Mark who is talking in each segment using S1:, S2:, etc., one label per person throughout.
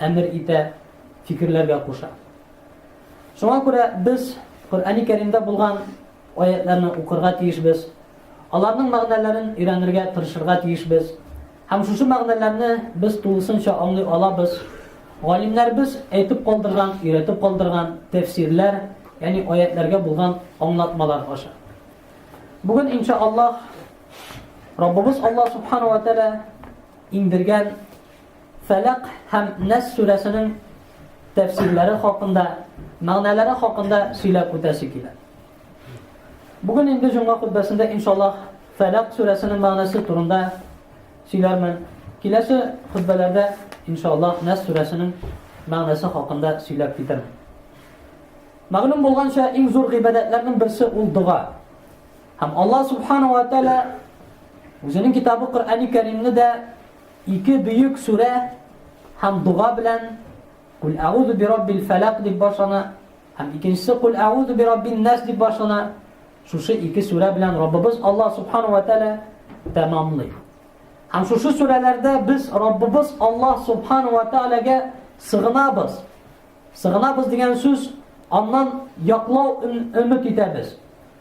S1: әмер итә, фикерләргә куша. Шуңа күрә без Коръәни Кәримдә булган аятларны укырга тиешбез, аларның мәгънәләрен өйрәнергә тырышырга тиешбез. Һәм шушы мәгънәләрне без тулысынча аңлый алабыз. Галимнәребез әйтеп калдырган, өйрәтеп калдырган тәфсирләр, ягъни аятларга булган аңлатмалар аша. Бүген иншаллаһ Раббыбыз Аллаһ субхана ва тааля иңдергән Фәләк һәм Нәс сүрәсенең тәфсирләре хакында, мәгънәләре хакында сөйләп үтәсе килә. Бүген инде җомга хутбәсендә иншаллаһ Фәләк сүрәсенең мәгънәсе турында сөйләрмен. Киләсе хутбәләрдә иншаллаһ Нәс сүрәсенең мәгънәсе хакында сөйләп китермен. Мәгълүм булганча, иң зур гыйбадәтләрнең берсе ул дога. Һәм Аллаһ субхану ва тааля үзенең китабы Коръәни Кәримне дә Ике бөек сүрә һәм дога белән, Куль әгузу бираббил фәләк дип башлана һәм икенчесе Куль әгузу бираббин нәс дип башлана. Шушы ике сүрә белән Раббыбыз Аллаһ субхана ва тәгалә тәмамлый. Һәм шушы сүрәләрдә без Раббыбыз Аллаһ субхана ва тәгаләгә сыгынабыз. Сыгынабыз дигән сүз аннан яклау өмет итәбез.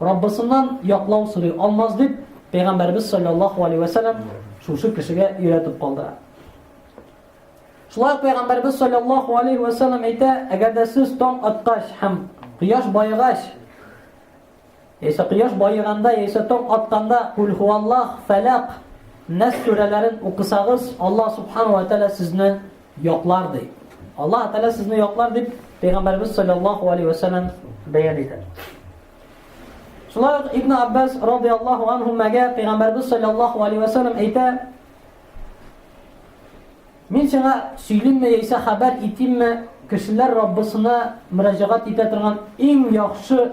S1: Раббысыннан яклау сорый алмас дип, Пәйгамбәребез салләллаһу алейһи вә сәлләм шушы кешегә өйрәтеп калдыра. Шулай ук Пәйгамбәребез салләллаһу алейһи вә сәлләм әйтә, әгәр дә сез таң аткач һәм кояш баегач, яисә кояш баеганда, яисә таң атканда кул хуаллах, фәләк, нәс сүрәләрен укысагыз, Аллаһ субхану ва тәгалә сезне Яклар ди. Аллаһ Тәгалә сезне яклар дип Пәйгамбәрбез саллаллаһу алейһи ва сәлләм бәян итә. Шулай ук Ибн Аббас радиаллаһу анһумага Пәйгамбәрбез саллаллаһу алейһи ва сәлләм әйтә: Мин сиңа сөйлимме яисә хәбәр итимме, кешеләр Раббысына мөрәҗәгать итә торган иң яхшы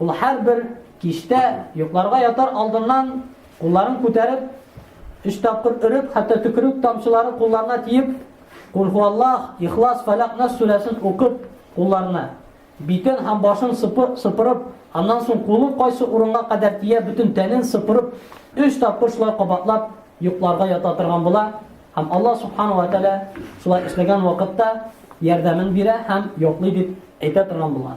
S1: Ул һәрбер кичтә йокларга ятар алдыннан кулларын күтәреп, өч тапкыр өреп, хәтта төкерек тамчылары кулларына тиеп, Кулхуаллах, Ихлас, Фәләк, Нас сүрәсен укып, кулларына битен һәм башын сыпырып, аннан соң кулы кайсы урынга кадәр тия, бөтен тәнен сыпырып, өч тапкыр шулай кабатлап йокларга ята торган була. Һәм Аллаһ субхану ва тааля шулай эшләгән вакытта ярдәмен бирә һәм йоклый дип әйтә торган булган.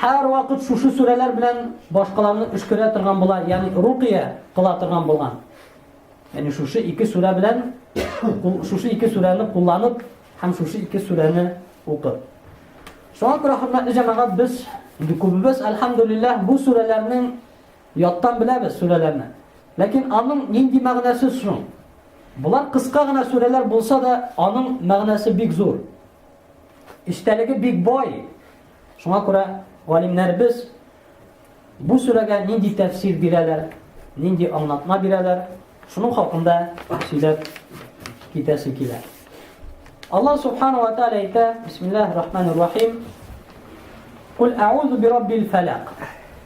S1: Һәрвакыт шушы сүрәләр белән башкаларны өшкерә торган була, ягъни рукыя кыла торган булган. Ягъни шушы ике сүрә белән шушы ике сүрәне кулланып һәм шушы ике сүрәне укып. Шуңа күрә хөрмәтле җәмәгать без инде күбебез альхамдулиллаһ бу сүрәләрнең яттан беләбез сүрәләрне. Ләкин аның нинди мәгънәсе соң? Болар кыска гына сүрәләр булса да, аның мәгънәсе бик зур. Истәлеге бик бай. Шуңа күрә галимнәребез бу сүрәгә нинди тәфсир бирәләр, нинди аңлатма бирәләр, шуның хакында сөйләп китәсе килә. Аллаһ субхана ва тааля әйтә, бисмиллаһир рахманир рахим. Кул аузу би раббил фалак.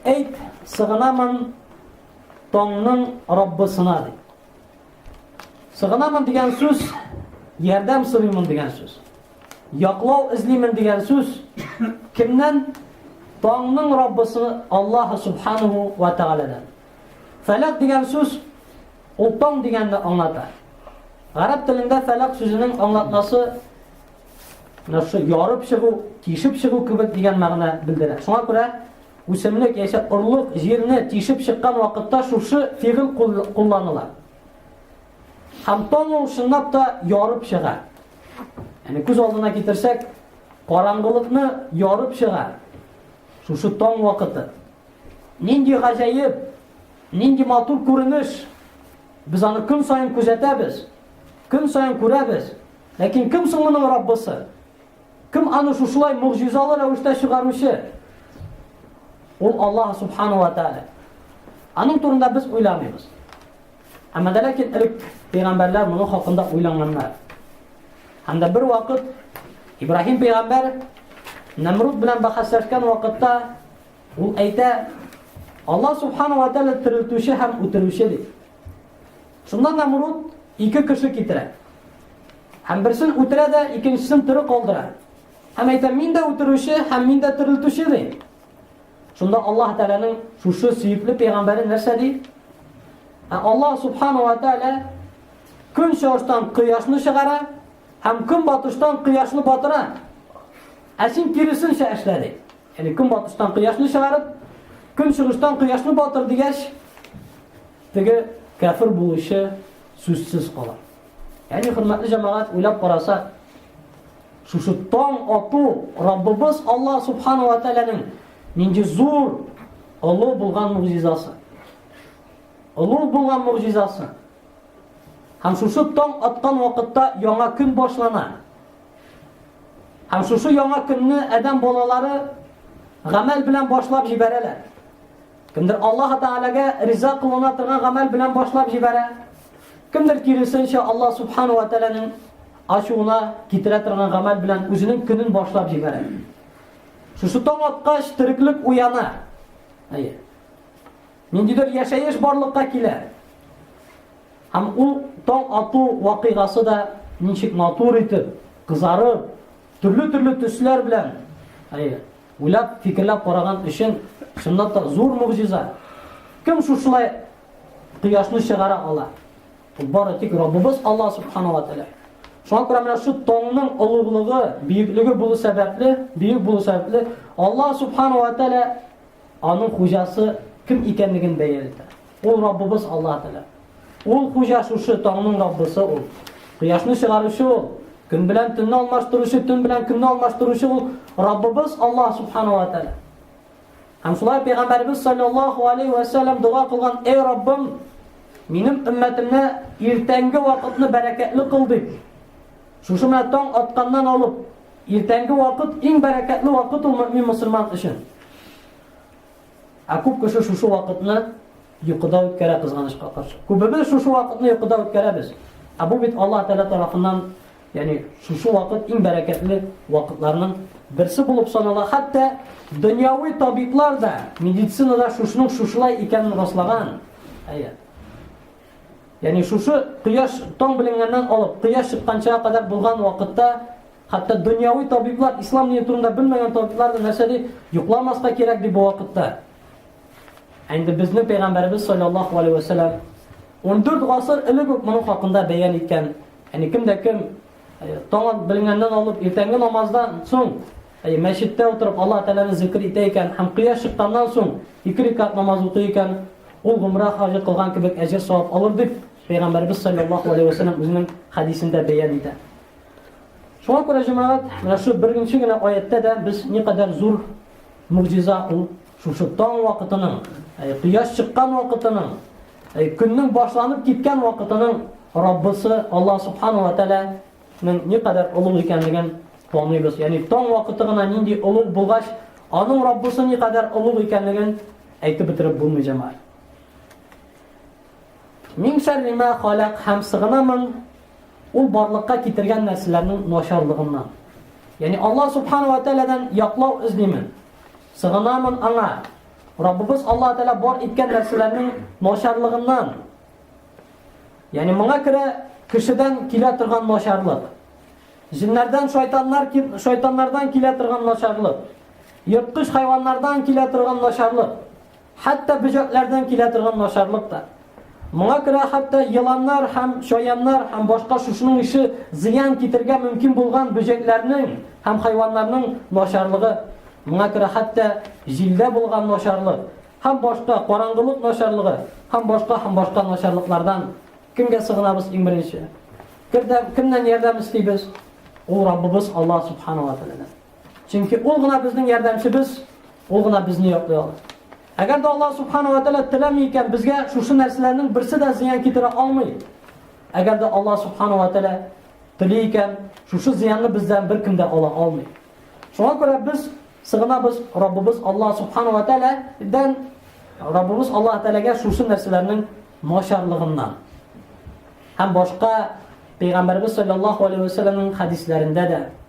S1: Әйт, сыгынамын таңның Раббысына дип. Сыгынамын дигән сүз, ярдәм сорыймын дигән сүз. Яклау эзлимен дигән сүз кемнән? Таңның Раббысы Аллаһ субханаһу ва тааладан. Фәләк дигән сүз ул таң дигәнне аңлата. Гарәп телендә фәләк сүзенең аңлатмасы Нәрсә ярып чыгу, тишеп чыгу кебек дигән мәгънә белдерә. Шуңа күрә үсемлек яисә орлык җирне тишеп чыккан вакытта шушы фигыл кулланыла. Һәм таң ул чынлап та ярып чыга. Яни күз алдына китерсәк, караңгылыкны ярып чыга. Шушы таң вакыты. Нинди гаҗәеп, нинди матур күренеш. Без аны көн саен күзәтәбез. Көн саен күрәбез. Ләкин кем соң моның Раббысы? Кем аны шушылай могҗизалы рәвештә чыгаручы? Ул Аллаһ субхану ва тааля. Аның турында без уйламыйбыз. Әмма дә ләкин элек пәйгамбәрләр моның хакында уйлаганнар. Һәм дә бер вакыт Ибраһим пәйгамбәр Намруд белән бәхәсләшкән вакытта ул әйтә, Аллаһ субхану ва тааля терелтүче һәм үтерүче дип. Шунда Намруд ике кеше китерә. Һәм берсен үтерә дә, икенчесен тере калдыра. Һәм әйтә, мин дә үтерүче, һәм мин дә терелтүче ди. Шунда Аллаһ Тәгаләнең шушы сөекле пәйгамбәре нәрсә ди? Ә Аллаһ Субхану ва Тәгалә көн чыгыштан кояшны чыгара һәм көн батыштан кояшны батыра. Ә син киресенчә эшлә ди. Яни көн батыштан кояшны чыгарып, көн чыгыштан кояшны батыр дигәч, Теге кәфер булучы сүзсез кала. Яни хөрмәтле җәмәгать уйлап карасак, шушы таң ату Раббыбыз Алла субхана ва тәгаләнең нинди зур олы булган мугъҗизасы. Олы булган мугъҗизасы. Һәм шушы таң аткан вакытта яңа көн башлана. Һәм шушы яңа көнне адәм балалары гамәл белән башлап җибәрәләр. Кемдер Аллаһ Тәгаләгә риза кылына торган гамәл белән башлап җибәрә, кемдер киресенчә Аллаһ Субхану ва Тәгаләнең ачуына китерә торган гамәл белән үзенең көнен башлап җибәрә. Шушы таң аткач тереклек уяна. Әйе. Ниндидер яшәеш барлыкка килә. Һәм ул таң ату вакыйгасы да ничек матур итеп, кызарып, төрле-төрле төсләр белән, әйе, Уйлап, фикерләп караган өчен, чынлап та, зур могҗиза. Кем шушылай кояшны чыгара ала? Ул бары тик Раббыбыз Аллаһ субхана ва тәгалә. Шуңа күрә менә шу таңның олуглыгы, бөеклеге булу сәбәпле, бөек булу сәбәпле, Аллаһ субхана ва тәгалә аның хуҗасы кем икәнлеген бәяләтә. Ул Раббыбыз Аллаһ Тәгалә. Ул Хуҗа шушы таңның Раббысы ул. Кояшны чыгаручы ул. Көн белән төнне алмаштыручы, төн белән көнне алмаштыручы ул Раббыбыз Аллаһ Субхану ва Тәгалә. Һәм шулай пәйгамбәрбез саллаллаһу алейхи ва саллям дога кылган: "Эй Раббым, минем өммәтемне иртәнге вакытны бәрәкәтле кыл" дип. Шушы менә таң атканнан алып, иртәнге вакыт иң бәрәкәтле вакыт ул мөмин мусульман өчен. Ә күп кеше шушы вакытны йокыда үткәрә кызганычка каршы. Күбебез шушы вакытны йокыда үткәрәбез. Ә бу бит Аллаһ Тәгалә тарафыннан, ягъни шушы вакыт иң бәрәкәтле вакытларның берсе булып санала. Хәтта дөньяви табиблар да медицинада шушының шушылай икәнен раслаган. Әйе. Ягъни шушы кояш таң беленгәннән алып, кояш чыкканчага кадәр булган вакытта Хәтта дөньяви табиблар ислам дине турында белмәгән табиблар да нәрсә ди? Йокламаска кирәк ди бу вакытта. Ә инде безнең пәйгамбәребез саллаллаху алейхи ва саллям 14 гасыр элек үк моның хакында бәян иткән. Яни кемдә кем э, таң белгәннән алып иртәнге намаздан соң э, мәчеттә утырып Аллаһ Тәгаләне зикр итә икән һәм кояш чыкканнан соң ике рикат намаз укый икән, ул гомра хаҗы кылган кебек әҗер савап алыр дип пәйгамбәребез саллаллаху алейхи ва саллям үзенең хәдисендә бәян итә. Шуңа күрә, җәмәгать, менә шу беренче генә аятьтә дә без никадәр зур могҗиза ул шушы таң вакытының, әй, кояш чыккан вакытының, әй, көннең башланып киткән вакытының Раббысы Аллаһ субхана ва тәгаләнең никадәр олуг икәнлеген таныйбыз. Ягъни таң вакыты гына нинди олуг булгач, аның Раббысы никадәр олуг икәнлеген әйтеп бетереп булмый җәмәгать. Мин шәрри ма халак һәм сыгынамын Ул барлыкка китергән нәрсәләрнең начарлыгыннан. Ягъни Аллаһ субхана ва тәгаләдән яклау эзлимен. Сыгынамын аңа. Раббыбыз Аллаһ тәгалә бар иткән нәрсәләрнең начарлыгыннан. Ягъни моңа күрә кешедән килә торган начарлык. Җиннәрдән шайтаннар шайтаннардан килә торган начарлык. Ерткыч хайваннардан килә торган начарлык. Хәтта бөҗәкләрдән килә торган начарлык та. Моңа күрә хәтта еланнар һәм чаяннар һәм башка шушының ише зыян китергә мөмкин булган бөҗәкләрнең һәм хайваннарның начарлыгы, моңа күрә хәтта җилдә булган начарлык һәм башка караңгылык начарлыгы һәм башка һәм башка начарлыклардан кемгә сыгынабыз иң беренче? Кемнән ярдәм эстибез? Ул Раббыбыз Аллаһ субхану ва тааладан. Чөнки ул гына безнең ярдәмчебез, ул гына безне яклый ала. Әгәр дә Аллаһ субхана ва тәгалә теләми икән, безгә шушы нәрсәләрнең берсе дә зыян китерә алмый. Әгәр дә Аллаһ субхана ва тәгалә тели икән, шушы зыянны бездән беркем дә ала алмый. Шуңа күрә без сыгынабыз Раббыбыз Аллаһ субхана ва тәгаләдән, Раббыбыз Аллаһ тәгаләгә шушы нәрсәләрнең начарлыгыннан. Һәм башка Пәйгамбәрбез саллаллаһу алейһи ва сәлламның хәдисләрендә дә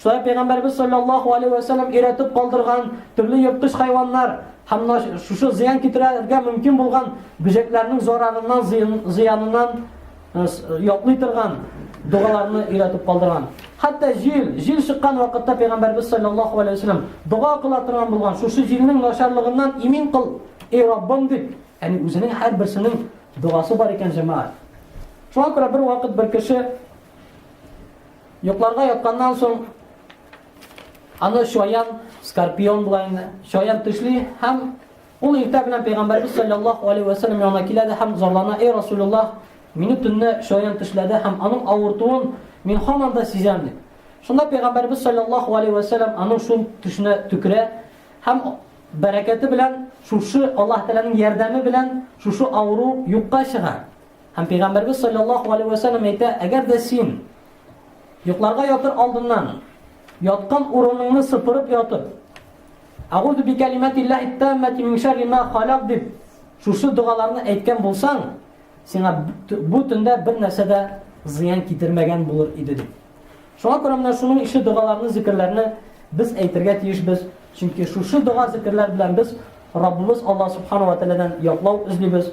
S1: Шулай Пәйгамбәрбез салләллаһу алейһи вә сәлләм өйрәтеп калдырган төрле ерткыч хайваннар һәм шушы зыян китерергә мөмкин булган бөҗәкләрнең зарарыннан, зыяныннан яклый торган догаларны өйрәтеп калдырган. Хәтта җил, җил чыккан вакытта Пәйгамбәрбез салләллаһу алейһи вә сәлләм дога кыла торган булган, шушы җилнең начарлыгыннан имин кыл, эй Раббым дип, яни үзенең һәр берсенең догасы бар икән җәмәгать. Шуңа күрә бер вакыт бер кеше Йокларга ятканнан соң аны шаян, скорпион була инде, шаян төшли һәм ул иртә белән пәйгамбәрбез саллаллаһу алейхи ва саллям янына килә дә һәм зарлана: "Эй Расулуллах, мине төнне шаян төшләде һәм аның авыртуын мин һаман да сизәм" дип. Шунда пәйгамбәрбез саллаллаһу алейхи ва саллям аның шул төшенә төкерә һәм бәрәкәте белән шушы Аллаһ Тәгаләнең ярдәме белән шушы авыру юкка чыга. Һәм Пәйгамбәрбез саллаллаху алейһи вә сәлләм әйтә, әгәр дә син йокларга ятыр алдыннан яткан урыныңны сыпырып ятып, Агуду би калиматиллахи таммати мин шарри ма халак дип шушы догаларны әйткән булсаң, сиңа бу төндә бер нәрсә дә зыян китермәгән булыр иде дип. Шуңа күрә менә шуның ише догаларны, зикерләрне без әйтергә тиешбез. Чөнки шушы дога, зикерләр белән без Раббыбыз Аллаһ субхану ва тааладан яклау эзлибез.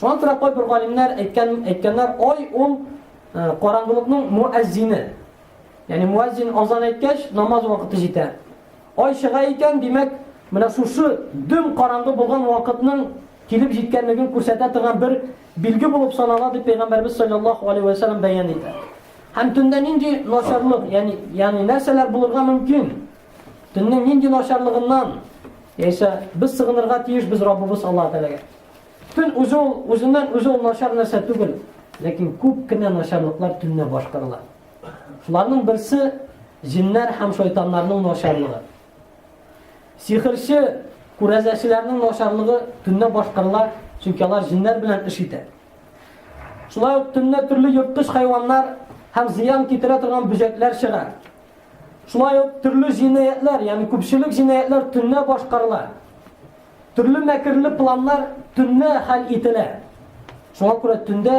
S1: Шуңа күрә кайбер галимнәр әйткән әйткәннәр, ай ул э, караңгылыкның муәззине. Ягъни муәззин азан әйткәч, намаз вакыты җитә. Ай чыга икән, димәк, менә шушы дөм караңгы булган вакытның килеп җиткәнлеген күрсәтә торган бер билге булып санала дип пәйгамбәрбез саллаллаху алейхи ва саллям бәян итә. Һәм төндә нинди начарлык, ягъни ягъни нәрсәләр булырга мөмкин? Төннең нинди начарлыгыннан, яисә без сыгынырга тиеш без Раббыбыз Аллаһ Тәгаләгә. Төн үзе ул үзеннән үзе ул начар нәрсә түгел, ләкин күп кенә начарлыклар төннә башкарыла. Шуларның берсе җиннәр һәм шайтаннарның начарлыгы. Сихерче, күрәзәчеләрнең начарлыгы төннә башкарыла, чөнки алар җиннәр белән эш итә. Шулай ук төннә төрле йырткыч хайваннар һәм зыян китерә торган бөҗәкләр чыга. Шулай ук төрле җинаятьләр, ягъни күпчелек җинаятьләр төнлә башкарыла. Төрле мәкерле планнар төнлә хәл ителә. Шуңа күрә төндә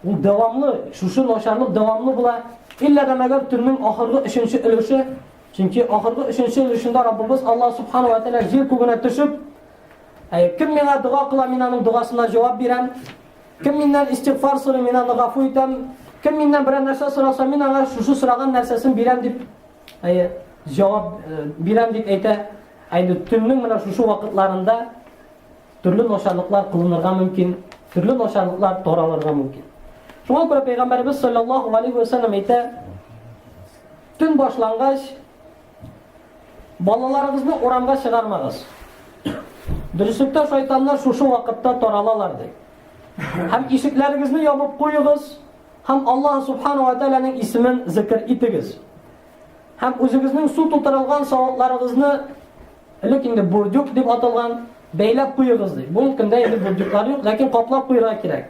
S1: ул дәвамлы, шушы начарлык дәвамлы була. Иллә дә мәгәр төннең ахыргы өченче өлеше, чөнки ахыргы өченче өлешендә Раббыбыз Алла субхану ва тәгалә җир күгенә төшеп, кем миңа дога кыла, мин аның догасына җавап бирәм. Кем миннән истигъфар сорый, мин аны гафу итәм. Кем миннән берәр нәрсә сораса, мин аңа шушы сораган нәрсәсен бирәм дип, әйе, җавап э, бирәм дип әйтә. Әйе, төннең менә шушы вакытларында төрле начарлыклар кылынырга мөмкин, төрле начарлыклар таралырга мөмкин. Шуңа күрә пәйгамбәрбез саллаллаһу алейхи ва саллям әйтә, төн башлангач, Балаларыгызны урамга чыгармагыз. Дөреслектә шайтаннар шушы вакытта таралалар ди. Һәм ишекләрегезне ябып куегыз һәм Аллаһ субхану ва тааляның исемен зикр итегез. Һәм үзегезнең су тутырылган савытларыгызны элек инде бурдюк дип аталган бәйләп куегыз ди. Бу көндә инде бурдюклар юк, ләкин каплап куярга кирәк.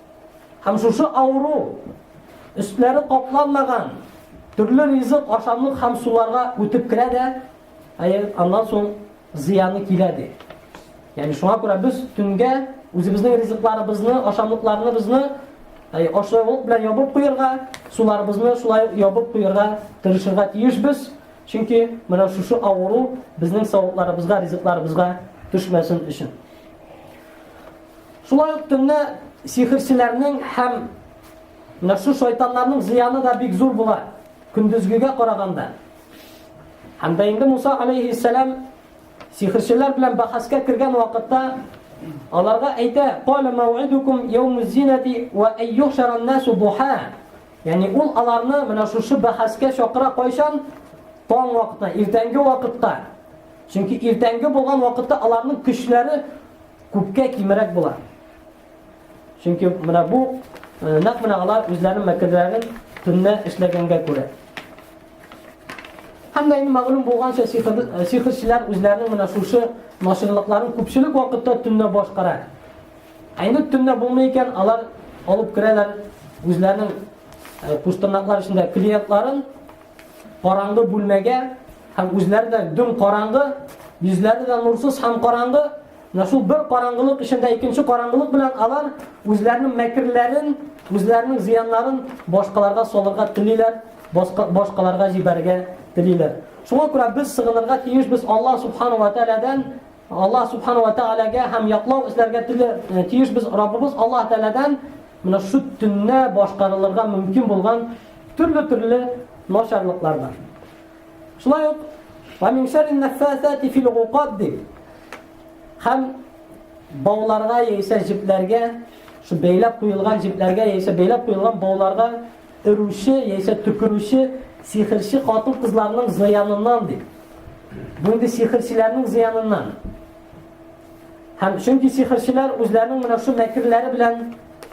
S1: Һәм шушы авыру, өстләре капланмаган, төрле ризык, ашамлык һәм суларга үтеп керә дә, әйе, аннан соң зыяны килә ди. Ягъни шуңа күрә без төнгә үзебезнең ризыкларыбызны, ашамлыкларыбызны Әй, ашыгып белән ябып куярга, суларыбызны шулай ябып куярга тырышырга тиешбез. Чөнки менә шушы авыру безнең савытларыбызга, ризыкларыбызга төшмәсен өчен. Шулай ук төнлә сихерчеләрнең һәм менә шу шайтаннарның зыяны да бик зур була, көндезгегә караганда. Һәм дә инде Муса алейхиссалам сихерчеләр белән бахаска кергән вакытта аларга әйтә: "Кала мауидукум яумуз зинати ва айюшаран насу духа". Ягъни ул аларны менә шушы бахаска чакыра кайчан? Таң вакытта, иртәнге вакытта. Чөнки иртәнге булган вакытта аларның көчләре күпкә кимерәк була. Чөнки менә бу э, нәкъ менә алар үзләренең мәкерләрен төнлә эшләгәнгә күрә. Һәм дә инде мәгълүм булганча э, сихерчеләр үзләренең менә шушы машинлыкларын күпчелек вакытта төнлә башкара. Ә инде төнлә булмый икән, алар алып керәләр үзләренең э, куштырнаклар эчендә клиентларын Караңгы бүлмәгә һәм үзләре дә дөм караңгы, йөзләре дә нурсыз һәм караңгы, менә шул бер караңгылык эчендә икенче караңгылык белән алар үзләренең мәкерләрен, үзләренең зыяннарын башкаларга салырга телиләр, башкаларга җибәрергә телиләр. Шуңа күрә без сыгынырга тиеш, без Аллаһ субхану ва тааладан Аллаһ Субхану ва Тәгаләгә һәм яклау эзләргә тиле э, тиеш без Раббыбыз Аллаһ Тәгаләдән менә шу төнне башкарылырга мөмкин булган төрле-төрле начарлыклардан. Шулай ук ва мин шәрри наффасати фил уқад дип һәм бауларга яисә җепләргә, шу бәйләп куелган җепләргә яисә бәйләп куелган бауларга Өрүче яисә төкерүче сихерче хатын-кызларның зыяныннан ди. Бу инде сихерчеләрнең зыяныннан. Һәм чөнки сихерчеләр үзләренең менә шул мәкерләре белән,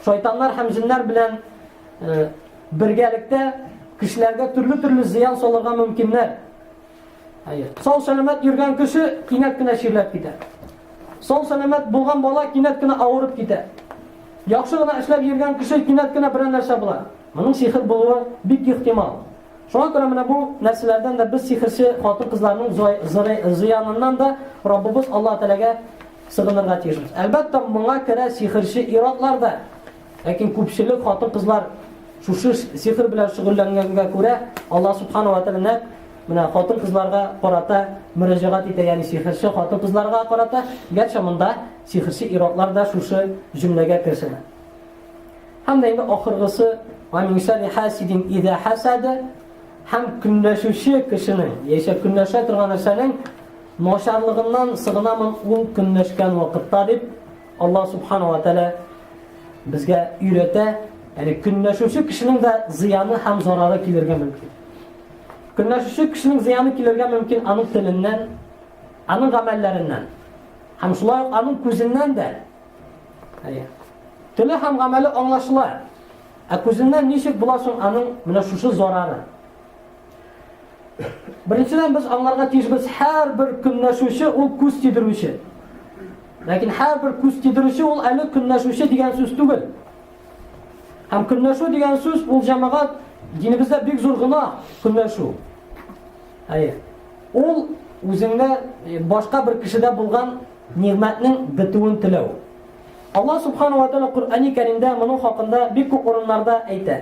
S1: шайтаннар һәм җиннәр белән э, бергәлектә кешеләргә төрле-төрле зыян салырга мөмкиннәр. Хәер. Сау сәламәт йөргән кеше кинәт кенә чирләп китә. Сау сәламәт булган бала кинәт кенә авырып китә. Яхшы гына эшләп йөргән кеше кинәт кенә берәр нәрсә була. Моның сихер булуы бик ихтимал. Шуңа күрә менә бу нәрсәләрдән дә без сихерче хатын-кызларның зыяныннан да Раббыбыз Аллаһ Тәгаләгә сыгынырга тиешбез. Әлбәттә, моңа керә сихерче иратлар да. Ләкин күпчелек хатын-кызлар шушы сихр белән шөгыльләнгәнгә күрә, Аллаһ Субхану ва Тәгалә менә хатын-кызларга карата мөрәҗәгать итә, ягъни сихрче хатын-кызларга карата, гәрчә монда сихрче иратлар да шушы җөмләгә керсен. Һәм дә инде ахыргысы, "Ва мин шарри хасидин иза хасада" һәм көнләшүче кешенең, яисә көнләшә торган нәрсәнең начарлыгыннан сыгынамын ул көнләшкән вакытта дип Аллаһ Субхана ва Тәлә безгә өйрәтә, яни көнләшүче кешенең дә зыяны һәм зарары килергә мөмкин. Көнләшүче кешенең зыяны килергә мөмкин аның теленнән, аның гамәлләреннән. Һәм шулай ук аның күзеннән дә. Әйе. Теле һәм гамәле аңлашыла. Ә күзеннән ничек була соң аның менә шушы зарары? Беренчедән без аңларга тиешбез, һәрбер көнләшүче ул күз тидерүче. Ләкин һәрбер күз тидерүче ул әле көнләшүче дигән сүз түгел. Һәм көнләшү дигән сүз ул җәмәгать динебездә бик зур гына көнләшү. Әйе. Ул үзеңдә э, башка бер кешедә булган нигъмәтнең бетүен теләү. Алла субханала тәала Коръәни Кәримдә моның хакында бик күп урыннарда әйтә.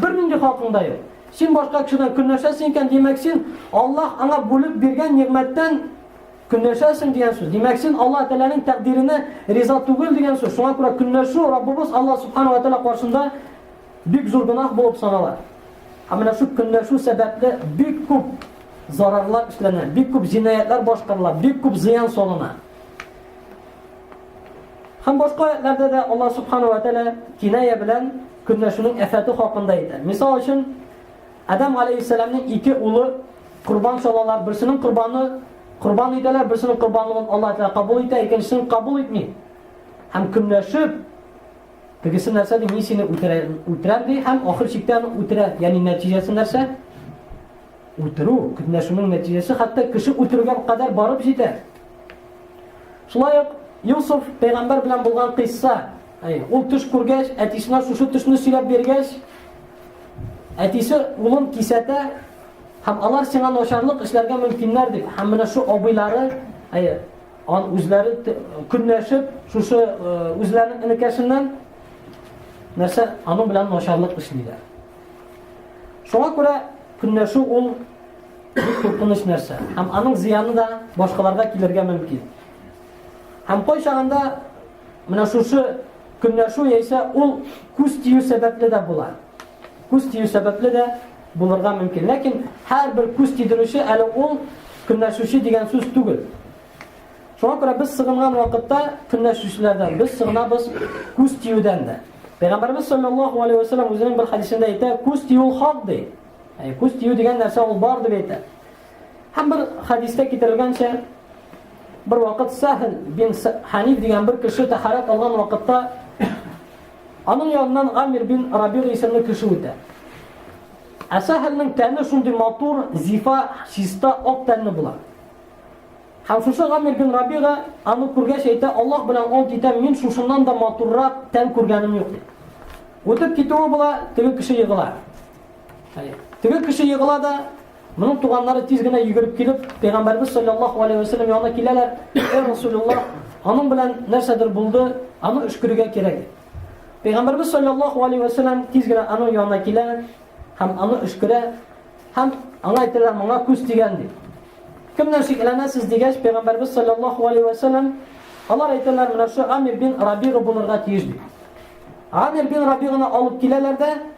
S1: Бернинди хакың да юк. Син башка кешедән көнләшәсең икән, димәк син Аллаһ аңа бүлеп биргән нигъмәттән көнләшәсең дигән сүз. Димәк син Аллаһ Тәгаләнең тәкъдиренә риза түгел дигән сүз. Шуңа күрә көнләшү Раббыбыз Аллаһ Субхану ва Тәгалә каршында бик зур гөнаһ булып санала. Һәм менә шул көнләшү сәбәпле бик күп зарарлар эшләнә, бик күп җинаятлар башкарыла, бик күп зыян салына. Һәм башка аятьләрдә дә Алла субхана ва тәгалә киная белән көнләшүнең әфәте хакында әйтә. Мисал өчен, Адам алейхиссаламның ике улы курбан салалар, берсенең курбаны курбан итәләр, берсенең курбанлыгын Алла тәгалә кабул итә, икенчесен кабул итми. Һәм көнләшеп тегесе нәрсә ди, мин сине үтерәм, үтерәм ди, һәм ахыр чиктә аны үтерә. Ягъни нәтиҗәсе нәрсә? Үтерү, көнләшүнең нәтиҗәсе хәтта кеше үтерүгә кадәр барып җитә. Шулай ук Юсуф пәйгамбәр белән булган кыйсса, ул төш күргәч, әтисенә шушы төшне сөйләп биргәч, әтисе улын кисәтә һәм алар сиңа начарлык эшләргә мөмкиннәр дип, һәм менә шу абыйлары, әйе, ан үзләре көнләшеп, шушы э, үзләренең энекәшеннән нәрсә аның белән начарлык эшлиләр. Шуңа күрә көнләшү ул Бик куркыныч нәрсә. Һәм аның зыяны да башкаларга килергә мөмкин. Һәм кайчагында менә шушы көнләшү яисә ул күз тию сәбәпле дә була. Күз тию сәбәпле дә булырга мөмкин. Ләкин һәрбер күз тидерүче әле ул көнләшүче дигән сүз түгел. Шуңа күрә без сыгынган вакытта көнләшүчеләрдән, без сыгынабыз күз тиюдән дә. Пәйгамбәрбез саллаллаһу алейһи ва саллям үзенең бер хәдисендә әйтә, күз тию хак ди. Яни күз тию дигән нәрсә ул бар дип әйтә. Һәм бер хадистә китерелгәнчә, бер вакыт Сахил бин Ханиф дигән бер кеше тәхарәт алган вакытта аның яныннан Амир бин Рабир исемле кеше үтә. Ә Сахилнең тәне шундый матур, зифа, чиста, ак тәнле була. Һәм шушы Амир бин Рабига аны күргәч әйтә, Аллаһ белән ант итәм, мин шушыннан да матуррак тән күргәнем юк. Үтеп китүе була, теге кеше егыла. Теге кеше егыла да, моның туганнары тиз генә йөгереп килеп, Пәйгамбәрбез саллаллаху алейхи ва сәлләм янына киләләр. Эй Расулуллах, аның белән нәрсәдер булды, аны өшкерергә кирәк. Пәйгамбәрбез саллаллаху алейхи ва сәлләм тиз генә аның янына килә һәм аны өшкерә һәм аңа әйтәләр, моңа күз дигән ди. Кемнән шикләнәсез дигәч, Пәйгамбәрбез саллаллаху алейхи ва сәлләм алар әйтәләр, менә шу Амир бин Рабига булырга тиеш ди. Амир бин Рабиганы алып киләләр дә,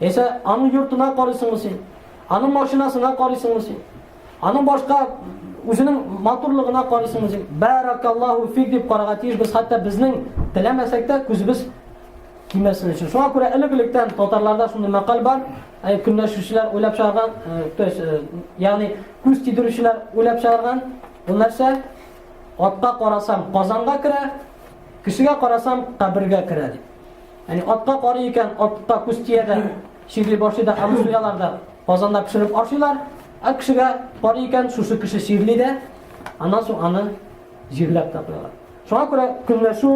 S1: Яисә аның йортына карыйсыңмы син? Аның машинасына карыйсыңмы син? Аның башка үзенең матурлыгына карыйсыңмы син? Баракаллаху фик дип карарга тиеш без, хәтта безнең теләмәсәк тә күзебез кимәсен өчен. Шуңа күрә элек-электән татарларда шундый мәкаль бар, ә көнләшүчеләр уйлап чыгарган, то есть, ягъни күз тидерүчеләр уйлап чыгарган, бу нәрсә? Атка карасам, казанга керә, кешегә карасам, кабергә керә дип. Яни атка карый икән, атка күз тия дә, чирли башлый да, аны суялар да, казанда пешереп ашыйлар. Ә кешегә карый икән, шушы кеше чирли дә, аннан соң аны җирләп тә куялар. Шуңа күрә көнләшү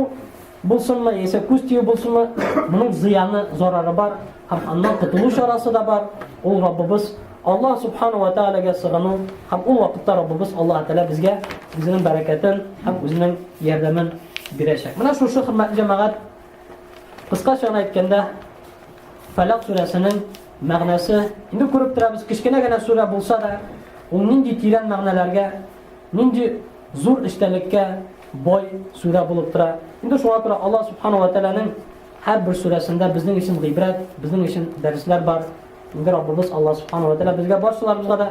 S1: булсынмы, яисә күз тию булсынмы, моның зыяны, зарары бар һәм аннан котылу чарасы да бар. Ул Раббыбыз Аллаһ субхану ва таалагә сыгыну һәм ул вакытта Раббыбыз Аллаһ тәала безгә үзенең бәрәкәтен һәм үзенең ярдәмен бирәчәк. Менә шушы хөрмәтле җәмәгать Кыскача гына әйткәндә, Фәләк сүрәсенең мәгънәсе, инде күреп торабыз, кечкенә генә сүрә булса да, ул нинди тирән мәгънәләргә, нинди зур эчтәлеккә бай сүрә булып тора. Инде шуңа күрә Аллаһ субхану ва тәгаләнең һәрбер сүрәсендә безнең өчен гыйбрәт, безнең өчен дәресләр бар. Инде Раббыбыз Аллаһ субхану ва тәгалә безгә барчаларыбызга да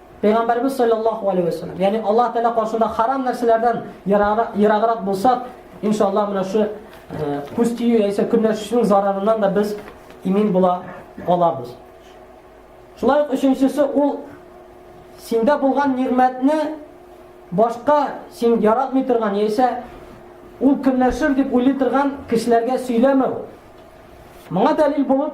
S1: Пәйгамбәрбез салләллаһу алейһи вә сәлләм, ягъни Аллаһ Тәгалә каршында харам нәрсәләрдән ераграк булсак, иншаллаһ, менә шу күз тию яисә көнләшүнең зарарыннан да без имин була алабыз. Шулай ук өченчесе ул синдә булган нигъмәтне башка син яратмый торган яисә ул көнләшер дип уйлый торган кешеләргә сөйләмәү. Моңа дәлил булып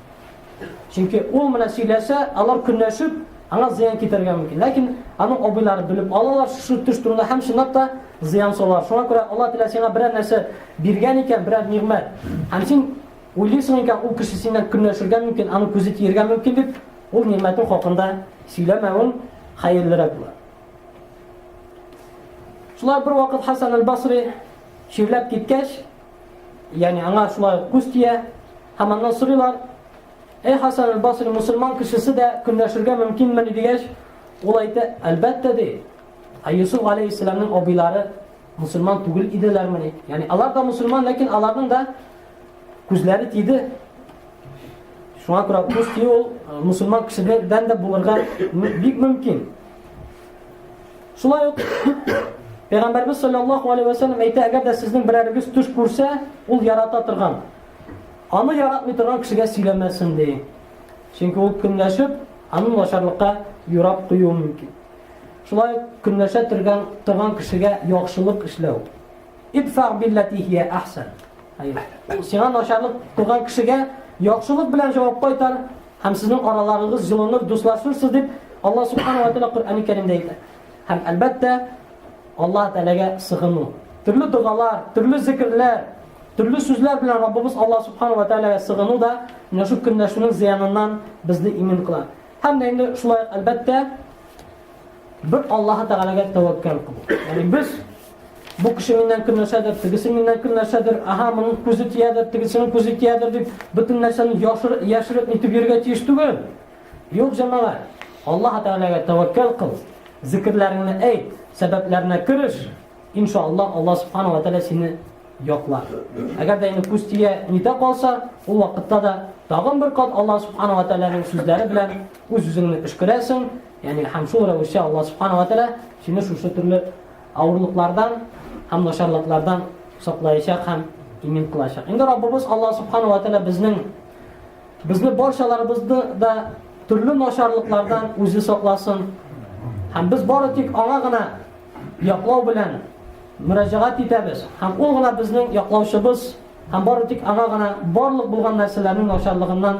S1: Чөнки ул менә сөйләсә, алар көнләшеп, аңа зыян китәргә мөмкин. Ләкин аның абыйлары белеп алалар шушы төш турында һәм чынлап та зыян салалар. Шуңа күрә Алла Тәгалә сиңа берәр нәрсә биргән икән, берәр нигъмәт. Һәм син уйлыйсың икән, ул кеше синнән көнләшергә мөмкин, аның күзе тиергә мөмкин дип, ул нигъмәтең хакында сөйләмәвең хәерлерәк була. Шулай бер вакыт Хасан аль-Басри чирләп киткәч, Ягъни аңа шулай ук күз тия. Һәм аннан сорыйлар, Эй Хасан аль-Басри, мусульман кешесе дә көнләшергә мөмкинмени дигәч, ул әйтә, әлбәттә ди. Ә Юсуф алейхиссаламның абыйлары мусульман түгел иделәрмени? Ягъни алар да мусульман, ләкин аларның да күзләре тиде. Шуңа күрә күз тию ул мусульман кешедән дә булырга бик мөмкин. Шулай ук Пәйгамбәрбез саллаллаху алейхи вәсәлләм әйтә, әгәр дә сезнең берәрегез төш күрсә, ул ярата торган. Аны яратмый торган кешегә сөйләмәсен ди. Чөнки ул көнләшеп, аны начарлыкка юрап куюы мөмкин. Шулай ук көнләшә торган торган кешегә яхшылык эшләү. Идфа биллати хия ахсан. Сиңа начарлык торган кешегә яхшылык белән җавап кайтар, Һәм сезнең араларыгыз җылыныр, дуслашырсыз дип Аллаһ Субхану ва Тәгалә Коръәни Кәримдә әйтә. Һәм әлбәттә, Аллаһ Тәгаләгә сыгыну. Төрле догалар, төрле зикрләр, төрле сүзләр белән Раббыбыз Аллаһ Субхану ва Тәгаләгә сыгыну да менә шул көнләшүнең зыяныннан безне имин кыла. Һәм дә инде шулай әлбәттә бер Аллаһ Тәгаләгә тәвәккәл кылу. Ягъни без Бу кеше миннән кем нәрсәдер, тегесе миннән кем нәрсәдер, аһа, моның күзе тиядер, тегесенең күзе тиядер дип, бөтен нәрсәне яшыр, яшереп нитеп йөргә тиеш түгел. Юк, җәмәгать. Аллаһ Тәгаләгә тәвәккәл кыл, зикрләреңне әйт, сәбәпләренә кереш. Иншалла, Аллаһ Субхану ва Тәгалә сине яклар. Әгәр дә инде күз тия нитә калса, ул вакытта да тагын бер кат Аллаһ Субхану ва Тәгаләнең сүзләре белән үз-үзеңне өшкерәсең, ягъни һәм шул рәвешле Аллаһ Субхану ва Тәгалә сине шушы төрле авырлыклардан һәм начарлыклардан саклаячак һәм имин кылачак. Инде Раббыбыз Аллаһ субхана ва тәгалә безнең безне барчаларыбызны да төрле начарлыклардан үзе сакласын. Һәм без бары тик аңа гына яклау белән мөрәҗәгать итәбез. Һәм ул гына безнең яклаучыбыз һәм бары тик аңа гына барлык булган нәрсәләрнең начарлыгыннан